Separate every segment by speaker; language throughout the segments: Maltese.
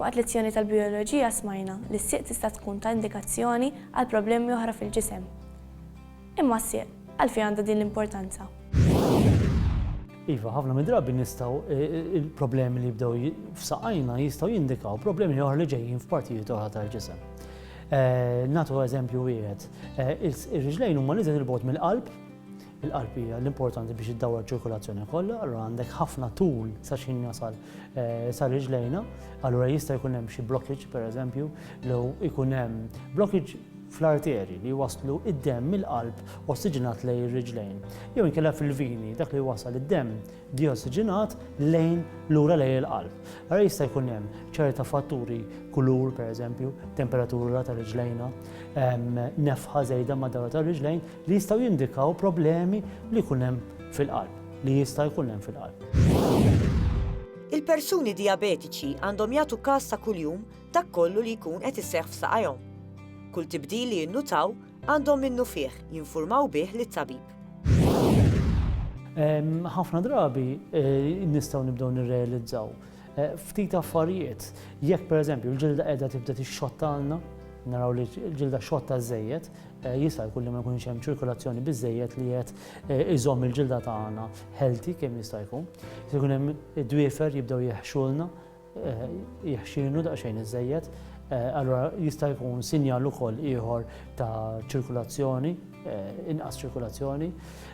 Speaker 1: Waqt lezzjoni tal-bijoloġija smajna li s-sieq tista' tkun ta' indikazzjoni għal problemi oħra fil-ġisem. Imma s-sieq għalfejn għandha din l-importanza?
Speaker 2: Iva, ħafna mid-drabi nistgħu il-problemi li jibdew f'saqajna jistgħu jindikaw problemi oħra li ġejjin f'partijiet oħra tal-ġisem. Eh, natu eżempju wieħed, eh, ir-riġlejn huma niżel il-bot mill-qalb, Il-qalb hija l-importanti biex iddawwar iċ-ċirkulazzjoni kollha, allura għandek ħafna tul sa x'ħin jasal sa riġlejna, allura jista' jkun hemm xi blockage pereżempju, jew ikun hemm blockage fl-arterji li jwasslu id-demm mill-qalb ossiġinat lejn ir-riġlejn. Jew inkella fil-vini, dak li jwassal id-demm diossiġinat lejn lura lejn il-qalb. Allura jista' jkun hemm ċerta fatturi kulur pereżempju, temperatura ta' riġlejna, nefħa żejda mad-dawra ta' riġlejn li jistgħu jindikaw problemi li jkun hemm fil-qalb, li jista' jkun hemm fil-qalb. Il-persuni
Speaker 3: dijabetiċi għandhom jagħtu kas ta' kuljum dak kollu li jkun qed iseħħ f'saqajhom. Kull tibdil li jinnutaw għandhom minnufih jinfurmaw bih lit-tabib.
Speaker 2: Ħafna drabi nistgħu nibdew nirrealizzaw ftit affarijiet. Jekk pereżempju l-ġilda qiegħda tibda tixxottana, naraw li l-ġilda xotta żejjed, Jista' jkun li ma jkunx hemm ċirkolazzjoni biżżejjed li qed iżomm il-ġilda tagħna healthy kemm jista' jkun. Se jkun hemm id-dwiefer jibdew jeħxulna, jeħxinu daqsxejn iżejjed, allura jista' jkun sinjal ukoll ieħor ta' ċirkolazzjoni, inqas ċirkolazzjoni.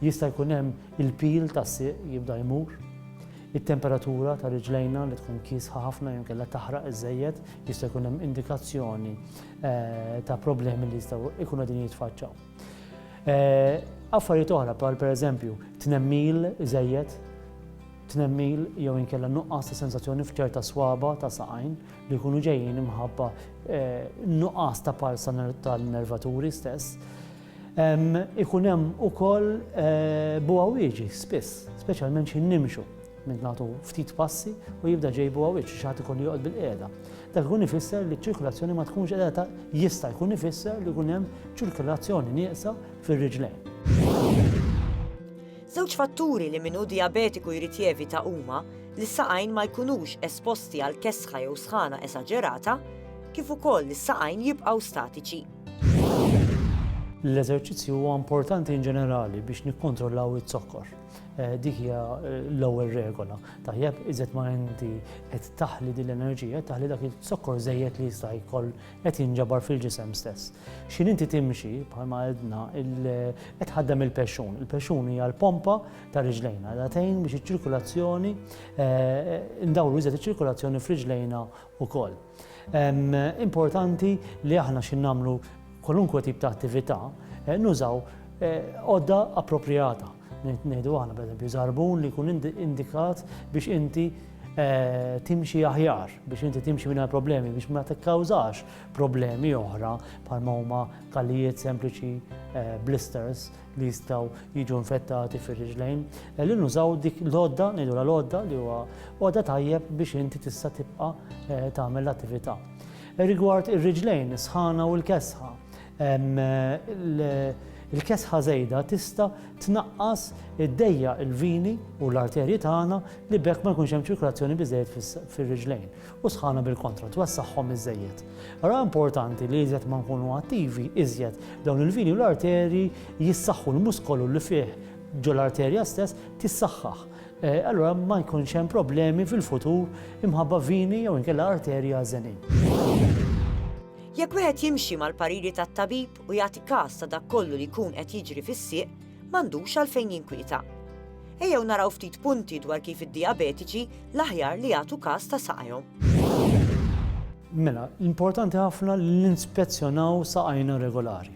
Speaker 2: Jista' jkun hemm il-pil tas-sieq jibda jmur. It-temperatura ta' riġlejna li tkun kiesħa ħafna jew kellha taħraq iżejjed jista' jkun hemm indikazzjoni ta' problemi li jistgħu jkunu din jitfaċċaw. Affarijiet oħra bħal pereżempju tnemmil żejjed, tnemmil jew inkella nuqqas ta' sensazzjoni f'ċerta swaba ta' saqajn li jkunu ġejjin imħabba nuqqas ta' parsa tal-nervaturi stess. Ikun hemm ukoll buha wieġi spiss, speċjalment xi nimxu. Min nagħtu ftit passi u jibda ġejbuha wiċċ, xi ħadd ikollu joqgħod bil-qiegħda. Dak ikun ifisser li ċ-ċirkulazzjoni ma tkunx qiegħda ta' jista' jkun ifisser li jkun hemm ċirkulazzjoni nieqsa fir-riġlejn.
Speaker 3: Żewġ fatturi li min hu dijabetiku jrid jevita huma li s-saqajn ma jkunux esposti għal kesħa jew sħana esaġerata, kif ukoll li s-saqajn jibqgħu statiċi.
Speaker 2: L-eżerċizzju huwa importanti in ġenerali biex nikkontrollaw iz-zokkor. Eh, dik hija eh, l-ewwel regola. Tajjeb, iżet ma inti qed taħli din l-enerġija, taħli dak il-sokkor żejjed li jista' jkoll qed jinġabar fil-ġisem stess. X'in inti timxi bħalma għedna qed ħaddem il-pexxun. Il-pexxun hija l-pompa ta' riġlejna, da tgħin biex iċ-ċirkulazzjoni eh, ndawru iżet iċ-ċirkulazzjoni f'riġlejna wkoll. Importanti li aħna xi nagħmlu kwalunkwe tip ta' attività nużaw għodda appropriata. Ngħidu aħna pereżempju żarbun li jkun indikat biex inti timxi aħjar, biex inti timxi minn problemi, biex ma tikkawżax problemi oħra bħalma huma kallijiet sempliċi blisters li jistgħu jiġu infettati fir-riġlejn, li nużaw dik l-għodda, ngħidulha l-għodda li huwa għodda tajjeb biex inti tista' tibqa' eh, tagħmel l-attività. Rigward ir-riġlejn, sħana u l-kesħa, il-kesħa żejda tista' tnaqqas id-dejja il-vini u l-arterji tagħna li bekk ma jkunx hemm ċirkolazzjoni biżejjed fir-riġlejn. u sħana bil-kontra, twessagħhom iżżejjed. Ara importanti li iżjed ma nkunu attivi, iżjed dawn il-vini u l-arterji jissaħħu l-muskolu li fih ġo l-arterja stess tissaħħaħ. Eh, allura ma jkunx hemm problemi fil-futur imħabba vini jew inkella arterja żenin.
Speaker 3: Jekk wieħed jimxi mal-pariri tat-tabib u jagħti każ ta' dak kollu li jkun qed jiġri fis-sieq, m'għandux għalfejn jinkwieta. Ejjew naraw ftit punti dwar kif id-dijabetiċi l-aħjar li jagħtu każ ta' saqajhom.
Speaker 2: Mela, l-importanti ħafna li ninspezzjonaw saqajna regolari.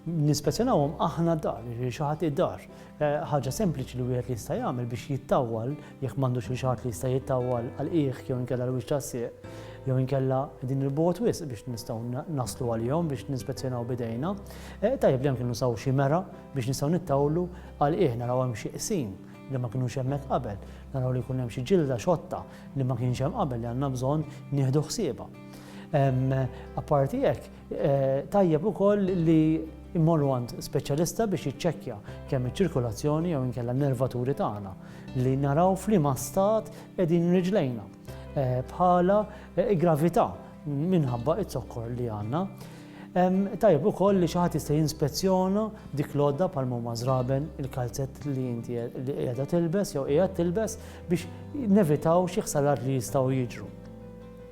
Speaker 2: Ninspezzjonawhom aħna dar, xi ħadd id-dar. Eh, ħaġa sempliċi li wieħed li jista' jagħmel biex jittawwal Jekk m'għandux xi ħadd li jista' jittawwal għal qiegħ jew inkella l-wiċċ tas-sieq, jew inkella qegħdin 'il bogħod wisq biex nistgħu naslu għalihom biex ninspezzjonaw b'idejna, tajjeb li anke nużaw xi mera biex nistgħu nittawlu għal qiegħ naraw hemm xi qsim li ma kinux hemmhekk qabel, naraw li jkun hemm xi ġilda xotta li ma kienx hemm qabel li għandna bżonn nieħdu ħsiebha. Apparti hekk, Tajjeb ukoll li mmorru għand speċjalista biex jiċċekkja kemm iċ-ċirkolazzjoni jew inkella n-nervaturi tagħna li naraw f'liema stat qegħdin riġlejna eh, bħala eh, gravità minħabba it-zokkor li għandna. Tajjeb ukoll li xi ħadd jista' jinspezzjona dik l-għodda bħal huma żraben il-kalzett li inti qiegħda tilbes jew qiegħed tilbes biex nevitaw xi ħsarat li jistgħu jiġru.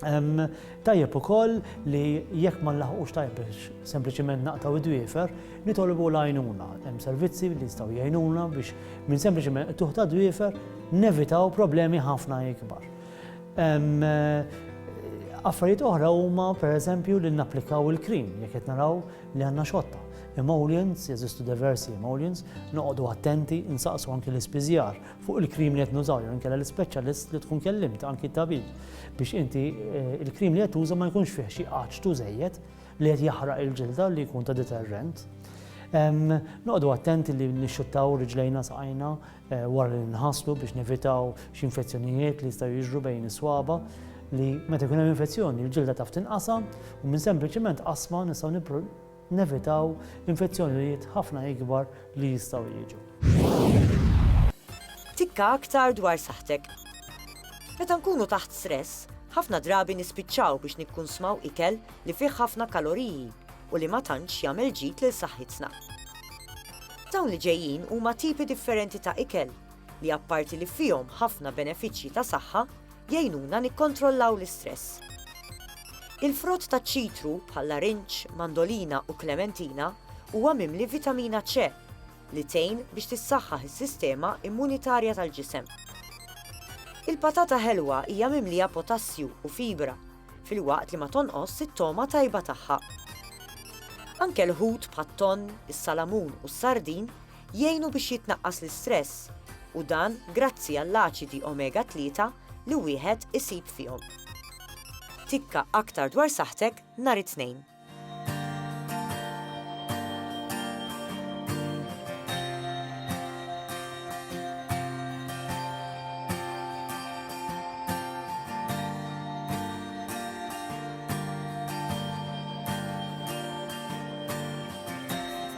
Speaker 2: Tajjeb ukoll li jekk ma nlaħqux tajjeb biex sempliċiment naqtgħu d-dwiefer, nitolbu l-għajnuna. Hemm servizzi li jistgħu jgħinuna biex minn sempliċiment qtugħ ta' dwiefer nevitaw problemi ħafna ikbar. Affarijiet oħra huma pereżempju li napplikaw il-cream jekk qed naraw li għandna xotta. Emollients, jeżistu diversi emollients, noqogħdu attenti, insaqsu anki l-ispiżjar. fuq il-cream li qed nużaw jew inkella l-ispeċjalist li tkun kellimt anki t-tabib biex inti eh, il-cream li qed tuża ma jkunx fih xi qaċtu żejjed li qed jaħraq il-ġilda li jkun ta' deterrent. Noqdu attenti li nixxuttaw riġlejna saqajna eh, wara li nħaslu biex nevitaw xi infezzjonijiet li jistgħu jiġru bejn is-swaba li meta jkun hemm infezzjoni il-ġilda taf tinqasam u minn sempliċement qasma nistgħu Nevitaw infezzjonijiet ħafna ikbar li jistgħu jiġu.
Speaker 3: Tikka aktar dwar saħħtek. Meta nkunu taħt stress, ħafna drabi nispiċċaw biex nikkunsmaw ikel li fih ħafna kaloriji u li ma tantx jagħmel ġid lil saħħitna. Dawn li ġejjin huma tipi differenti ta' ikel li apparti li fihom ħafna benefiċċji ta' saħħa, Jgħinuna nikkontrollaw l-istress. Il-frott taċ-ċitru, bħal-larinġ, mandolina u klementina, huwa mimli vitamina C, li tgħin biex tissaħħaħ is-sistema immunitarja tal-ġisem. Il-patata ħelwa hija mimlija potassju u fibra, filwaqt li ma tonqosx it-togħma tajba tagħha. Anke l-ħut bħat-tonn, is-salamun u s-sardin Jgħinu biex jitnaqqas l-istress, u dan grazzi għall-aċidi omega 3 li wieħed isib fihom. Tikka aktar dwar saħħtek nhar it-Tnejn.